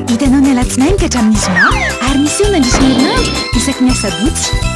Hitanao ny alatsinainy ka hatramin'ny zoma ary misy eo nandritra ny herinandro isaky ny asabotsy.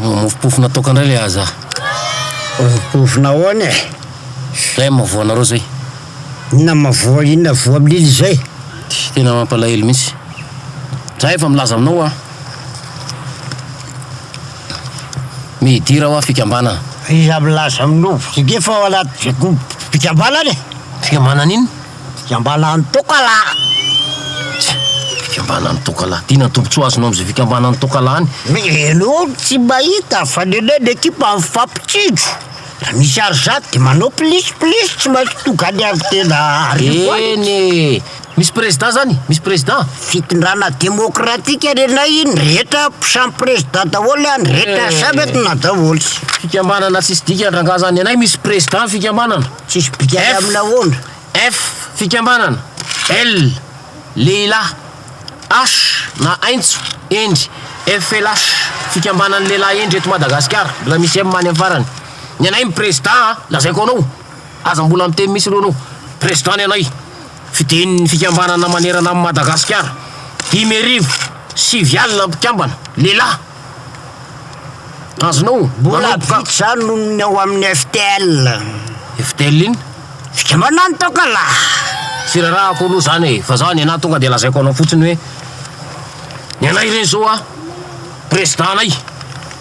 Mofopofona toaka indray le aza. Mofopofona ahoana e? Zay amin'ny mavoanareo zay. Inona mavoa, inona voa milily izay? Tena mampalahelo mihitsy. Za efa milaza aminao hoa. Midira hoa fikambanana. Iza milaza aminao? Efa ao anaty fikambanana e! Fikambanana inona? Fikambanan'ny tokalahy! Tsia, fikambanan'ny tokalahy. Ty na tombotsoa azonao amzay fikambanan'ny tokalahy any? Mihaino olo tsy mahita fa ny anay ny ekipa mifampitsinjo. Raha misy ary zany de manao plis plis tsy maintsy tonga any avy tena arivo any. Eny e! Misy prezidà zany? Misy prezidà? Fitondrana demokratika ny anay iny rehetra samy prezidà daholo any rehetra samy atonà daholo. Fikambanana tsisy dikany rangah zany. Ny anay misy prezidà ny fikambanana. Tsisy bikany amin'ny nahoana? F, Fikambanana. L, Lehilahy. H, na aintso, hendry. FLH, Fikambanan'ny lehilahy hendry eto Madagasikara. Mbola misy M any amin'ny farany. Ny anay ny Prezidà an! Lazaiko anao, aza mbola miteny misy loha anao. Prezidà ny anay. Fiden'ny fikambanana manerana an'i Madagasikara. Dimy arivo, sivy alina mpikambana, lehilahy. Azonao Mbola manomboka. vitsy izany noho ny ao amin'ny FTL. FTL inona? Fikambanana ny taokalà. Tsy rarahako aloha izany e, fa za ny anah tonga dia lazaiko anao fotsiny hoe ny anay re zao a, prezidànay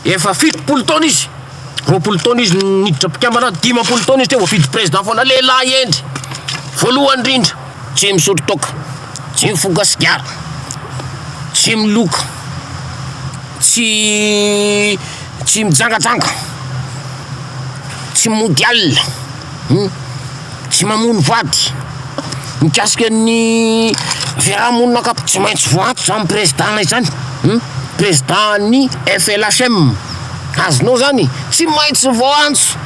efa fitopolo taona izy, roapolo taona izy niditra mpikambana, dimampolo taona izy teo voafidy prezidà foana, lehilahy hendry, voalohany indrindra. Tsy misotro toaka, tsy mifoka sigara, tsy miloka, tsy tsy mijangajanga, tsy mody alina, tsy mamono vady, mikasika ny fiaraha-monina ankapo tsy maintsy voantso zany prezidana izany, prezidany FLHM, azonao zany e, tsy maintsy voantso.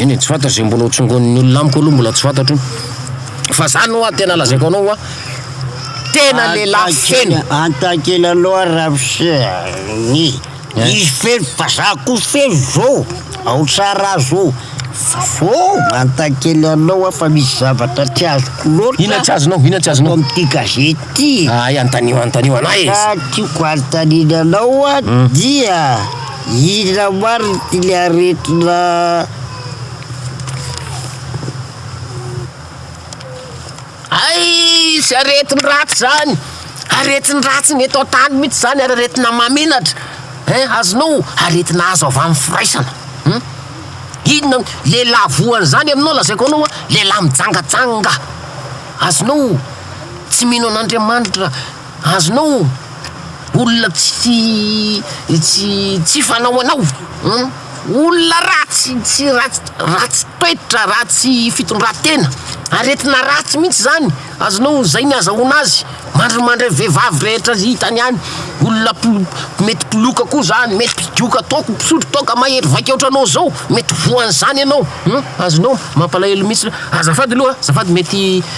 Eny e, tsy fantatro izay mbola ho tsongonin'ny olona amiko aloha mbola tsy fantatro fa zany hoa tena lazaiko anao hoa tena lehilahy feno. Antakely anao ary Ramose a, ny eh? izy feno fa za koa feno zao, ao Tsaraha zao, fô mantakely anao hoa fa misy zavatra tsy azoko loatra, inona tsy azonao, inona tsy azonao, ato amin'ity gazety ty, hay antanio antanio anahy e, raha tiako anontaniana anao hoa hmm. dia Inona marina ity le aretina Hay tsy aretin-dratsy zany, aretin-dratsy ny eto an-tany mihitsy zany ary aretina mahamenatra ein azonao aretina azo avy amin'ny firaisana hum inona lehilahy voa an'izany aminao lazaiko anao a lehilahy mijangajanga azonao tsy mino an'Andriamanitra. Azonao olona tsy tsy tsy fanao anao humm olona ratsy tsy ratsy ratsy toetra ratsy fitondratena aretina ratsy mihitsy zany azonao zay ny azahoana azy mandrimandry vevavy rehetra zay hitany any olona polo mety poloka koa zany mety mpidoka toaka mpisotro toaka mahery vaika otranao zao mety voanzany anao humm azonao mampalahelo mihitsy azafady loha azafady mety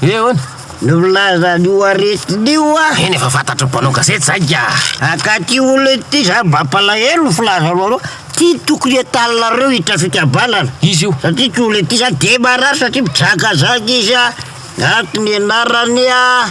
He ahoana? Nilaza an'io aretina io aho. Eny efa fantatro mpanao gazety zay ka. Akaty olona ity za mampalahelo ny filazanao anao ty tokony entaninareo hiditra fikambanana izy io satria ty olona ity za de marary satria mizangazanga izy a ato ny anarany a.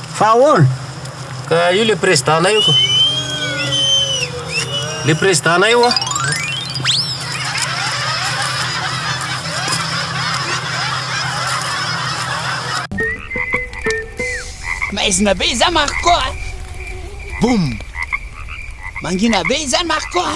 Fa ahoana? Ka io le président nay io ko. Le président nay io a. Maizina be izany Marco a! Boum! Mangina be izany Marco a!